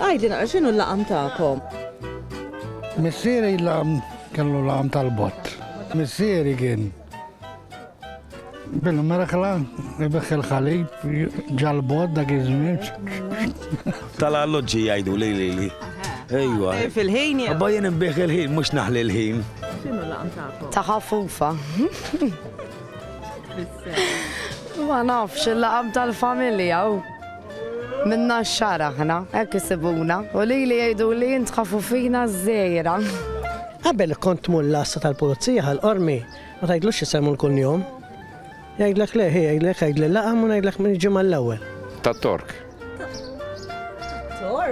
Għidli naqra x'inhu l-laqam tagħkom? Missieri l-laqam kellu laqam tal-bott. Missieri kien bil-merħla, ibiħ il-ħalib, ġal-bott dak iż-żmien. Tal-alloġġi jgħidu li li li. Ejwa. Fil-ħin jew? Abba jien imbieħ il-ħin, mhux naħli l-ħin. X'inhu l-laqam tagħkom? Ta' ħafufa. Ma nafx il-laqam tal-familja. Minna xar aħna, hekk isibuna, u lili jgħiduli int ħafufina żgħira. Qabel kont tmur l-għassa tal-pulizija ħal-qormi, ma tgħidlux isemmu l-kunjom. Jgħidlek le, jgħidlek jgħidli laqam u ngħidlek minn ġimgħa l-ewwel. Tat-Tork.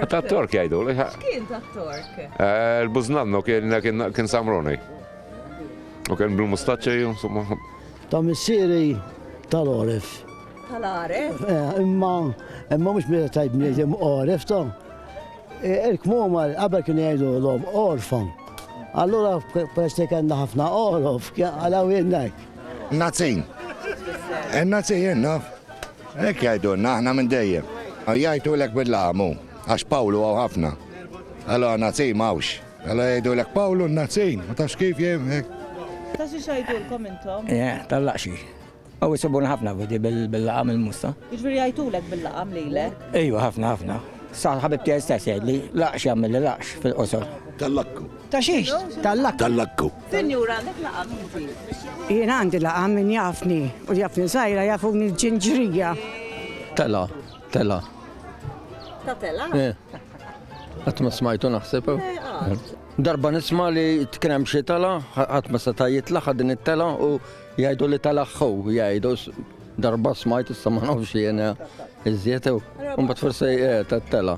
Tat-Tork jgħidu. Kien tat-Tork. Eh, Il-buznanno kien samroni. U kien bil-mustaċċa, insomma. Ta' missiri tal-orif. Tal-għaref? Eh, imma, imma mhux meta tajt bniedem għaref ta' eh, il-kmuma qabel kien jgħidu l-om orfan. Allura peress li kellna ħafna għorof, għalaw jennak. Nazin. Eh, Nazin jenna. Ek jgħidu, naħna minn dejjem. Jgħidu l-ek bil-lamu, għax Pawlu għaw ħafna. Allora Nazin mawx. Allora jgħidu l-ek Pawlu Nazin, ma tafx kif jgħidu. Taxi xajdulkom intom? Eh, tal-laqxi. Hawn isibuna ħafna f'di bil-laqam il-musta. Jiġifieri jgħajtulek bil-laqam lilek? Ejwa ħafna ħafna. Sa ħabib tiegħi stess jgħidli laqx jagħmilli laqx fil-qosor. Tal-lakku. Ta' xiex? Tal-lakku. Tal-lakku. Sinjura għandek laqam inti? Jien għandi laqam min jafni u li jafni żgħira jafuni l-ġinġrija. Tela, tela. Ta' tela? Qatt ma smajtu naħseb. Darba nisma' li tkien hemm xi tela, ħadd ma seta' jitla' ħadin it-tela u Jgħidu li tal-aħħu, jgħidu darba smajt issa ma nafx jiena iżjed u mbagħad forsi eh, tela.